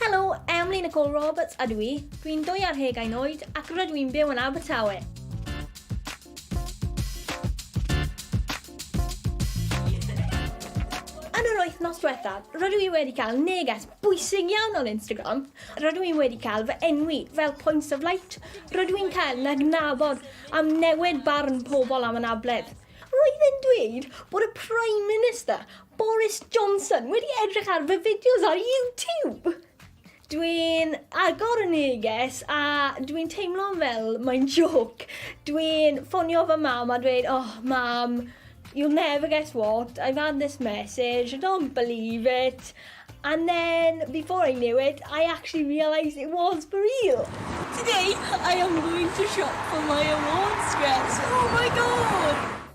Helo, Emlyn Nicole Roberts ydw i. Dwi'n dwy ar hegain oed ac rydw i'n byw yn Abertawe. Yn yr wythnos diwethaf, rydw i wedi cael neges bwysig iawn o'n Instagram. Rydw i wedi cael fy enwi fel Points of Light. Rydw i'n cael na gnabod am newid barn pobl am anabledd. Roedd e'n dweud bod y Prime Minister Boris Johnson wedi edrych ar fy fideos ar YouTube! Dwi'n agor y neges a dwi'n teimlo fel mae'n joc. Dwi'n ffonio fy mam a dweud, oh mam, you'll never guess what, I've had this message, I don't believe it. And then, before I knew it, I actually realised it was for real. Today, I am going to shop for my awards dress. Oh my god!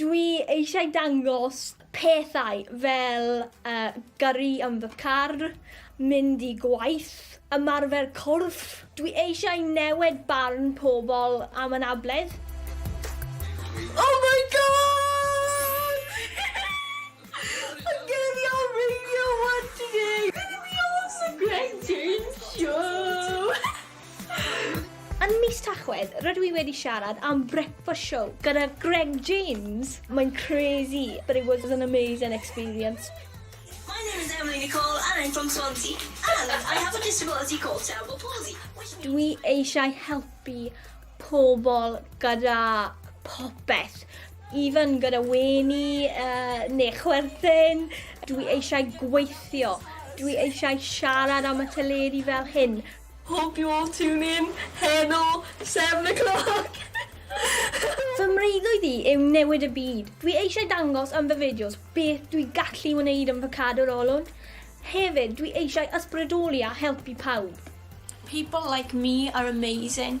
Dwi eisiau dangos pethau fel uh, gyrru yn fy car, mynd i gwaith, ymarfer corff. Dwi eisiau newid barn pobl am anabledd. Oh my god! y geiriau radio one today! Dwi awesome Greg James Show! Yn mis Tachwedd, rydw i wedi siarad am Breakfast Show gyda Greg James. Mae'n crazy, but it was an amazing experience. My name is Emily Nicole and I'm from Swansea and I have a disability called cerebral palsy which means... Dwi eisiau helpu pobl gyda popeth, even gyda wenu uh, neu chwerthin. Dwi eisiau gweithio. Dwi eisiau siarad am y teledu fel hyn. Hope you all tune in heno seven o' clock! Fy mreuddwyd i yw newid y byd. Dwi eisiau dangos yn fy fideos beth dwi gallu wneud yn fy cadw'r olwyn. Hefyd, dwi eisiau ysbrydoli a helpu pawb. People like me are amazing.